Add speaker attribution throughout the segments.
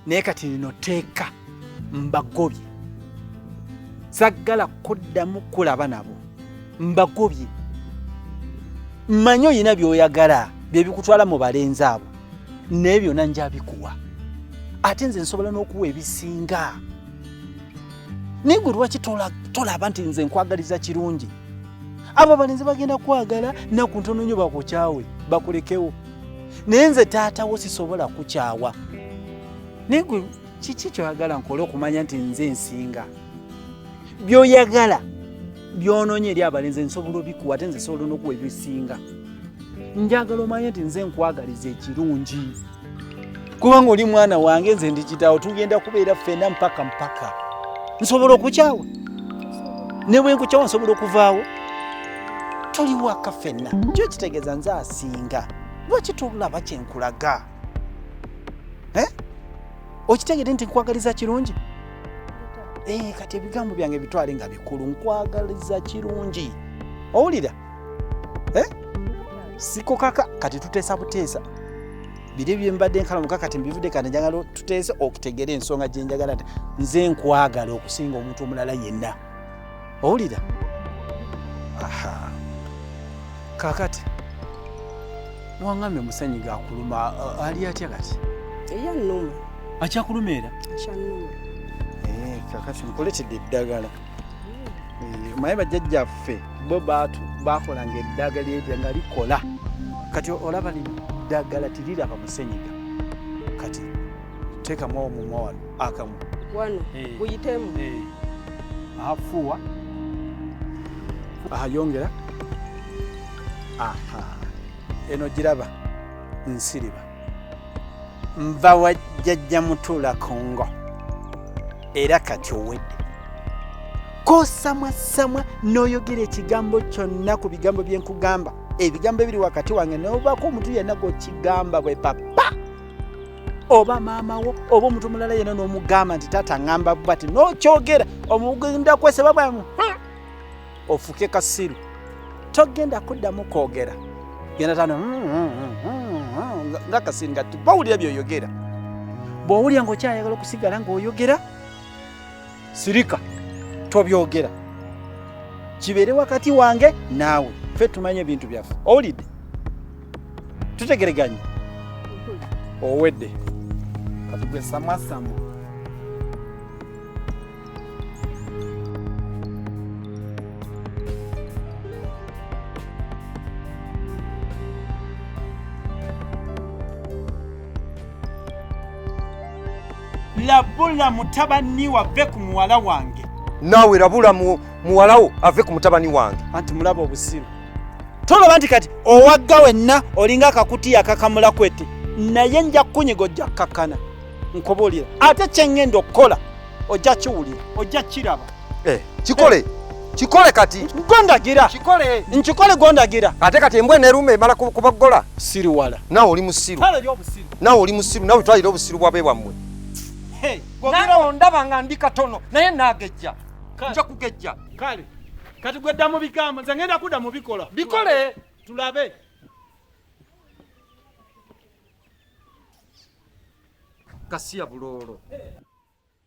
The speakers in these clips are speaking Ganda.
Speaker 1: naye kati lino teeka mbagobye saggala kuddamu kulaba nabo mbagobye mmanyi olina by'oyagala bye bikutwala mu balenzi abo naye byonna nja bikuwa ate nze nsobola n'okuwa ebisinga naye gwe lwaki tolaba nti nze nkwagaliza kirungi abo abalenzi bagenda kwagala naku ntono nyo bakukyawe bakulekewo naye nze taatawo sisobola kukyawa naye gwe kiki kyoyagala nkole okumanya nti nze nsinga byoyagala byononye eri abalenzi nsobola obikuwa ate nze sobola nokuwa ebisinga njagala omanye nti nze nkwagaliza ekirungi kubanga oli mwana wange nze ndikitawo tugenda kubeera ffena mpaka mpaka nsobola okukyawa ne bwe nkukyawa nsobola okuvaawo tuli waka ffenna kyo kitegeeza nze asinga lwaki tolaba kyenkulaga eh? okitegede nti nkwagaliza kirungi eh, kati ebigambo byange bitwale nga bikulu nkwagaliza kirungi owulira eh? sikukaka kati tuteesa buteesa biri byembadde nkala muka kati mbivude kati njagala tuteese okutegera ensonga gyenjagala nti nze nkwagala okusinga omuntu omulala yenna owulira aha kakati wangambye musanyi gakuluma uh, ali atya kati eya numa
Speaker 2: akyakuluma
Speaker 1: era akyanuma
Speaker 2: eh,
Speaker 1: kakati nkuletedde eddagala hmm. eh, maye bajjajjaffe bo baatu bakolanga eddagala erya nga likola kati olaba liddagala tiriraba musenyiga kati teekamu omumwa wano akamu wano eh.
Speaker 2: guyitemu eh.
Speaker 1: afuuwa ayongera aha eno giraba nsiriba nva wa jjajja mutuula kongo era kati owedde kosamwa samwa n'oyogera ekigambo kyonna ku bigambo bye nkugamba ebigambo ebiri wakati wange n'obaako omuntu yenna gwokigamba bwe papa oba maama wo oba omuntu omulala yena n'omugamba nti taata ngamba bati nokyogera omugenda kweseba bwamu hmm. ofuke kasiru togenda kuddamu kwogera genda tano hmm, hmm, nga kasiru nga bawulira byoyogera bwowulira ngaokyayagala okusigala ngaoyogera sirika tobyogera kibeere wakati wange naawe ffe tumanye ebintu byaffe owulidde tutegereganye owedde kati gwe samwasamu labula mutabani wave ku muwala wange naawe labula
Speaker 3: muwalawo ave ku mutabani wange anti mulaba obusiru
Speaker 1: tolaba nti kati owagga wenna olinga akakutiya akakamula kwete naye nja kukunyiga ojja kukakkana nkubuulira ate kye ŋŋenda okukola ojja kiwulira ojja kiraba Eh, kikole eh. kikole
Speaker 3: kati gondagira kikole
Speaker 1: nkikole gondagira ate kati embwa eneruuma
Speaker 3: emala kubagola siru wala nawe
Speaker 1: oli musiru
Speaker 3: nawe oli musiru nawe twalira obusiru bwabe bwammwe
Speaker 1: nana ondaba nga ndi katono naye nagejja nja kugejja kale kati gwedda mu bigambo nze ngenda kudda mu bikola bikole tulabe
Speaker 3: kasiya buloolo eh.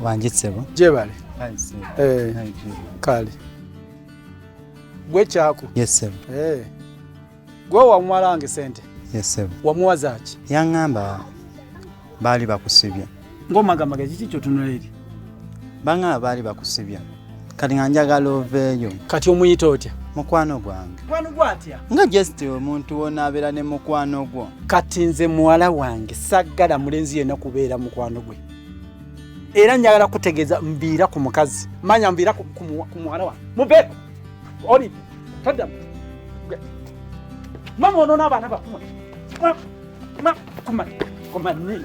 Speaker 4: wanjitsebo jebale
Speaker 1: eh, kale gwe kyako yes sebo eh. gwe wamuwalange sente yes sebo
Speaker 4: wamuwazaki
Speaker 1: yangamba
Speaker 4: baali bakusibye ng'omagamba gaki
Speaker 1: ki kyotunula eri banga
Speaker 4: abaali bakusibya kati nga njagala oveeyo kati omuyita otya
Speaker 1: mukwano gwange
Speaker 4: mukwano gwo atya nga
Speaker 1: just omuntu
Speaker 4: wonaabeera ne mukwano gwo kati nze muwala
Speaker 1: wange saggala mulenzi yenna kubeera mukwano gwe era njagala kutegeeza mbiira ku mukazi manya mbiira ku muwala wange mubeeko oli taddamu mama onoona abaana bakumwe kumani kumani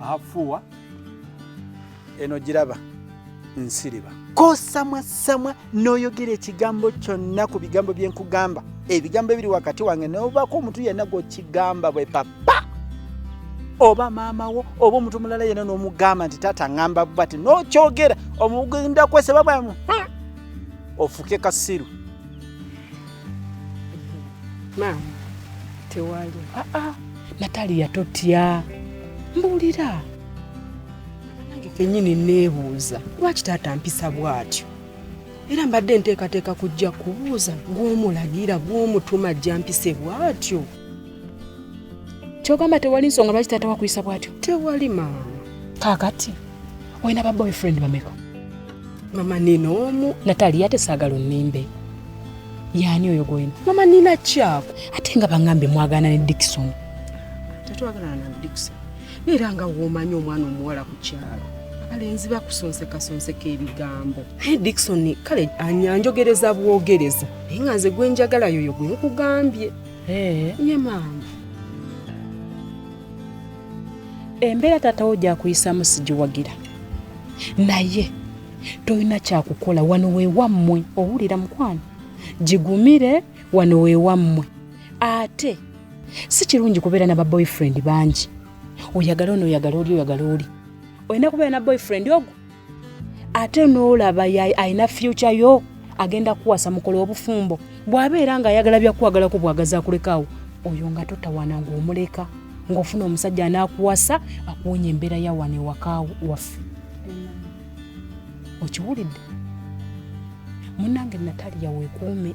Speaker 1: afuwa eno giraba nsiriba kosamwa samwa n'oyogera ekigambo kyonna ku bigambo bye nkugamba ebigambo ebiri wakati wange n'obaako omuntu yenna gw'okigamba bwe papa oba maama wo oba omuntu mulala yenna n'omugamba nti taata ngamba bati n'okyogera omugenda kwesebabwamu hmm, ofuke kasiru
Speaker 2: maama tewali aa ah, ah.
Speaker 5: nataliya totya mbuulira
Speaker 2: nange kenyini neebuuza lwaki taata mpisa bw'atyo era mbadde nteekateeka kujja kubuuza gw'omulagira gw'omutuma ajja mpise bw'atyo
Speaker 5: kyogamba tewali nsonga lwaki taata wakuyisa bwatyo tewali maama
Speaker 2: kakati
Speaker 5: olina ba boyfriend bameka mama
Speaker 2: nina omu natali ate saagala
Speaker 5: onimbe yaani oyo gwolina mama nina kyako
Speaker 2: ate nga baŋambe
Speaker 5: mwagana ne dikisoni tetwagalana
Speaker 2: na dikisoni era nga womanyi omwana omuwala ku kyalo abalenzi bakusonsekasonseka ebigambo naye dikisoni kale anyanjogereza bwogereza naye nga nze gwenjagala yoyo gwenkugambye Hey. Ye maama.
Speaker 5: Embeera taata wo gyakuyisaamu sigiwagira naye tolina kyakukola wano wewammwe owulira mukwano gigumire wano wewammwe ate si kirungi kubeera naba boyfriend bangi oyagala ono oyagala oli oyagala oli olina kubeera na boyfriend ogwo ate n'olaba alina fyuca yo agenda kuwasa mukola obufumbo bw'abeera ng'ayagala byakuwagalako bwagaza akulekaawo oyo nga totawana ng'omuleka ng'ofuna omusajja anaakuwasa akuwonya embeera ya wano ewaka waffe okiwulidde munange nataliya weekuume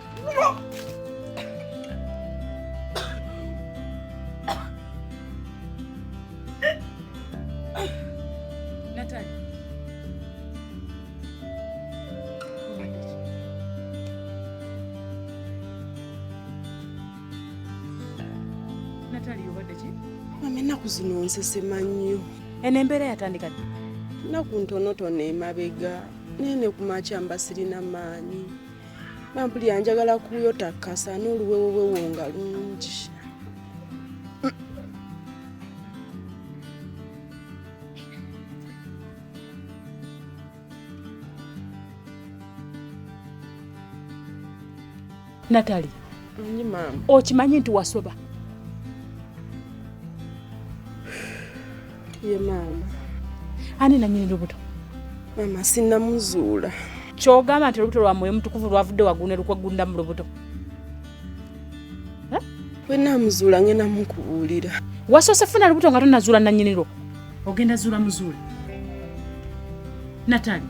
Speaker 2: nsesema nnyo eno embeera yatandika
Speaker 5: ddi nnaku
Speaker 2: ntonotono emabega naye ne ku makya mba sirina maanyi nampulira njagala kuyota kasa n'oluwewobwewo nga lungi
Speaker 5: natali
Speaker 2: okimanyi nti wasoba ye maama ani
Speaker 5: nanyini lubuto maama
Speaker 2: sinamuzuula kyogamba
Speaker 5: nti olubuto lwa mwoyo mutukuvu lwavudde wagune lukwegunda mu lubuto
Speaker 2: wenamuzuula ngenda mukubuulira wasoose funa lubuto
Speaker 5: nga tonazuula nanyinirwo ogenda zuula muzuula natani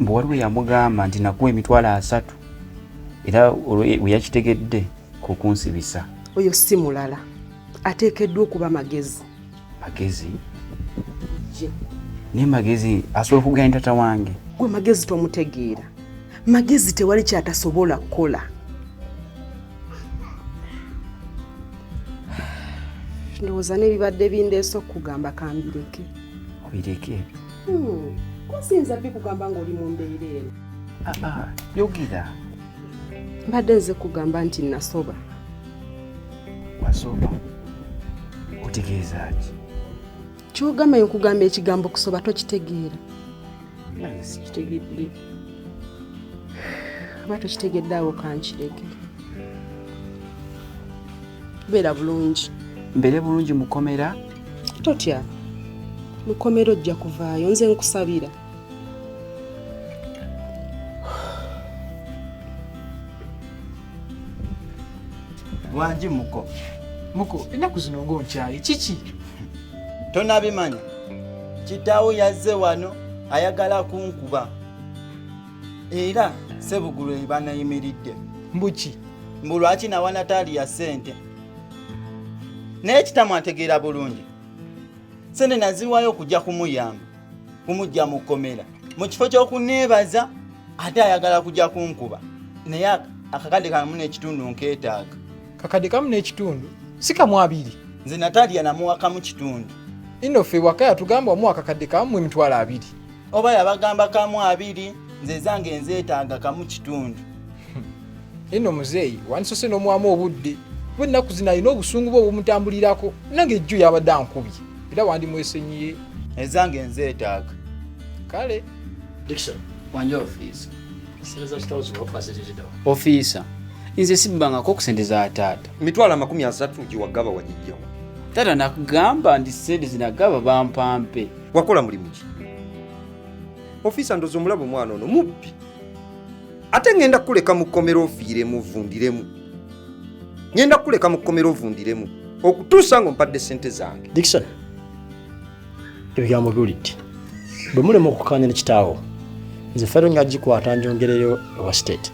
Speaker 2: mbu waliwo
Speaker 4: yamugamba nti nakuwa emitwalo asatu era weyakitegedde kukunsibisa oyo si
Speaker 2: mulala ateekeddwa okuba magezi magezi
Speaker 4: naye magezi asobola okuganya tata wange gwe magezi
Speaker 2: tomutegeera magezi tewali kyatasobola kukola ndowooza n'ebibadde bindeese okugamba kambireke obireke
Speaker 4: Hmm,
Speaker 2: kusiyinza bikugamba ng'oli mu mbeera eno ah, ah,
Speaker 4: yogera
Speaker 2: mbadde nze kugamba nti nasoba wasoba
Speaker 4: otegeeza ki kyogamba
Speaker 2: nkugamba ekigambo kusoba tokitegeera
Speaker 4: sikitegedde
Speaker 2: oba tokitegedde awo kankirege beera bulungi mbeere bulungi
Speaker 4: mukomera totya
Speaker 2: mukomera ojja kuvaayo nze nkusabira
Speaker 4: wangi muko muko ennaku
Speaker 6: zino ngaonkyaye kiki
Speaker 4: tonabimanya kitaawo yazze wano ayagala kunkuba era sebugulu ebanayimiridde mbuki
Speaker 6: mbu lwaki
Speaker 4: nawanataali ya ssente naye kitamu ategeera bulungi sente naziwayo okujja kumuyamba kumujja mu kkomera mu kifo ky'okuneebaza ate ayagala kujja kunkuba naye akakadde kamu n'ekitundu nkeetaaga kakadde kamu
Speaker 6: n'ekitundu si kamu abiri nze natalya
Speaker 4: namuwakamu kitundu ino ffe waka
Speaker 6: yatugamba omu akakadde kamu emitwalo abiri oba yabagamba
Speaker 4: kamu abiri nze ezange enzeetaaga kamu kitundu
Speaker 6: eno muzeeyi wandisose n'omwamu obudde kuba ennaku zino alina obusungu bwe obumutambulirako nange ejjo yabadde ankubye era wandimwesenyiye ezange
Speaker 4: nzeetaaga kale
Speaker 7: ofiisa
Speaker 4: nze sibbangako okusente za taata mitwalo amakumi asatu
Speaker 3: giwagaba wagijjawo taata
Speaker 4: nakugamba nti sente zinagaba bampampe wakola mulimu ki
Speaker 3: ofiisa ndozi omulaba omwana ono mubbi ate ŋŋenda kukuleka mu kkomera ofiiremu ovundiremu ŋŋenda kukuleka mu kkomera ovundiremu okutuusa nga ompadde ssente zange dikson
Speaker 7: ebigambo biwulidde bwe mulema okukaanya ne kitaawo nze fero nga gikwata njongereyo ewa state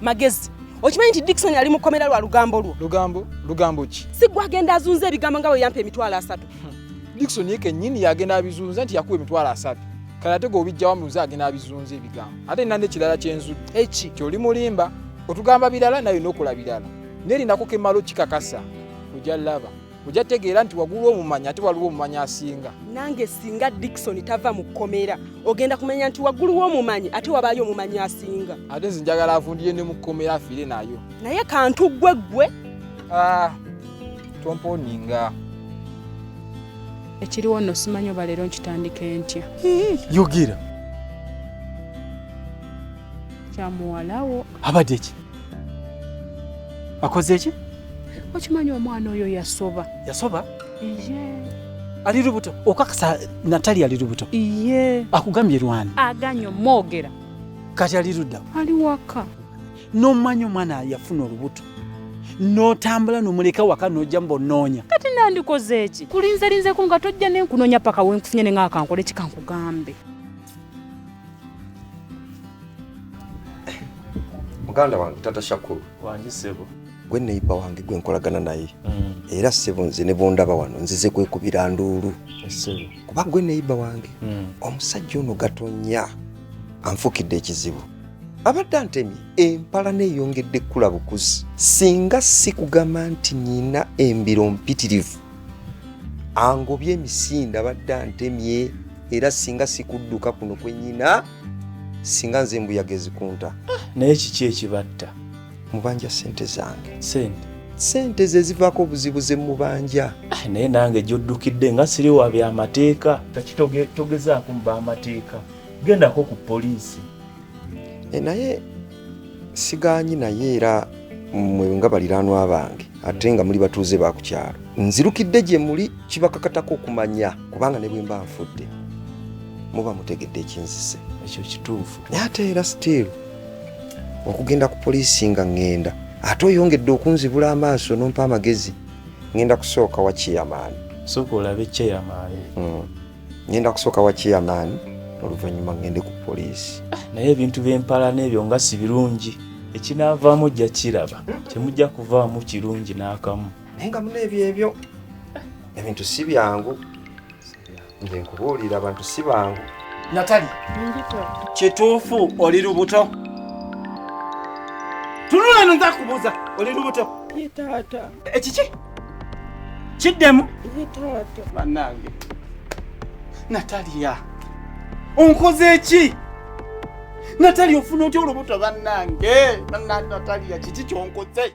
Speaker 2: magezi okimanyi nti dikson ali mu kkomera lwa lugambo lwo lugambo lugambo ki
Speaker 6: si gwe agenda azunza
Speaker 2: ebigambo nga bwe yampa emitwalo asatu Dickson ye
Speaker 6: kennyini yagenda abizunza nti yakuwa emitwalo asatu kale ate gwobijjawa muze agenda abizunza ebigambo ate nina nekirala kyenzudde eki kyoli mulimba otugamba birala naye nokola birala nerinako kemalo kikakasa oja laba oja tegeera nti wagulu omumanya ate waliwo omumanya asinga nange singa
Speaker 2: dikisoni tava mu kkomera ogenda kumanya nti waggulu womumanyi ate wabaayo omumanyi asinga ate nze njagala
Speaker 6: avundire ne mu kkomera afiire nayo naye kantu ggwe
Speaker 2: ggwe ah.
Speaker 6: tomponinga
Speaker 5: ekiriwo nno simanyi oba leero nkitandika entya yogera kyamuwalawo abadde ki
Speaker 1: akoze ki okimanyi
Speaker 5: omwana oyo yasoba yasoba iye ali lubuto
Speaker 1: okakasa natali ali lubuto iye akugambye
Speaker 5: lwani
Speaker 1: aganyo mwogera
Speaker 5: kati ali
Speaker 1: ludda ali waka
Speaker 5: n'omanya
Speaker 1: omwana yafuna olubuto n'otambula nomuleka waka nojja mba onoonya kati nandikoze
Speaker 5: eki kulinzerinzeko nga tojja nenkunoonya paka wenkufunye ne nga akankola eki kankugambe
Speaker 3: muganda wange tata shakulu
Speaker 4: wange
Speaker 3: sebo gwe neyiba wange gwe nkolagana naye mm. era sebo nze ne bondaba wano nzize kwekubira nduulu kuba gwe neyiba wange mm. omusajja ono gatonya anfukidde ekizibu abadde antemye empala neeyongedde kukula bukuzi singa si kugamba nti nyina embiro mpitirivu angobye emisinde abadde antemye era singa si kudduka kuno kwe nyina singa nze embuyaga ezikunta ah, naye kiki
Speaker 1: ekibatta mubanja
Speaker 3: sente zange sente sente
Speaker 1: ze zivaako obuzibu
Speaker 3: ze mubanja ah, naye nange
Speaker 1: gyoddukidde nga siri wa byamateeka kakitogezaako mu bamateeka gendako ku poliisi e,
Speaker 3: naye sigaanyi naye era mwe nga baliranwa bange ate nga muli batuuze ba ku kyalo nzirukidde gye muli kibakakatako okumanya kubanga ne bwe mba nfudde muba mutegedde ekinzise ekyo kituufu
Speaker 1: naye ate era still
Speaker 3: okugenda ku poliisi nga ŋŋenda ate oyongedde okunzibula amaaso nompa amagezi ŋŋenda kusooka wa chairman sooka olabe
Speaker 1: chairman mm.
Speaker 3: ngenda kusooka wa chairman oluvannyuma ngende ku poliisi ah, naye ebintu byempala
Speaker 1: n'ebyo nga si birungi ekinaavaamu ojja kiraba temujja kuvaamu kirungi n'akamu naye nga muna ebyo
Speaker 3: ebyo ebintu si byangu nze nkubuulira abantu si bangu natali
Speaker 1: kituufu oli lubuto tunula no nza kubuuza oli lubuto
Speaker 2: ekiki
Speaker 1: kiddemu
Speaker 2: banange
Speaker 1: nataliya onkoze ki natali ofuna otya olubuto banange nataliya kiki kyonkoze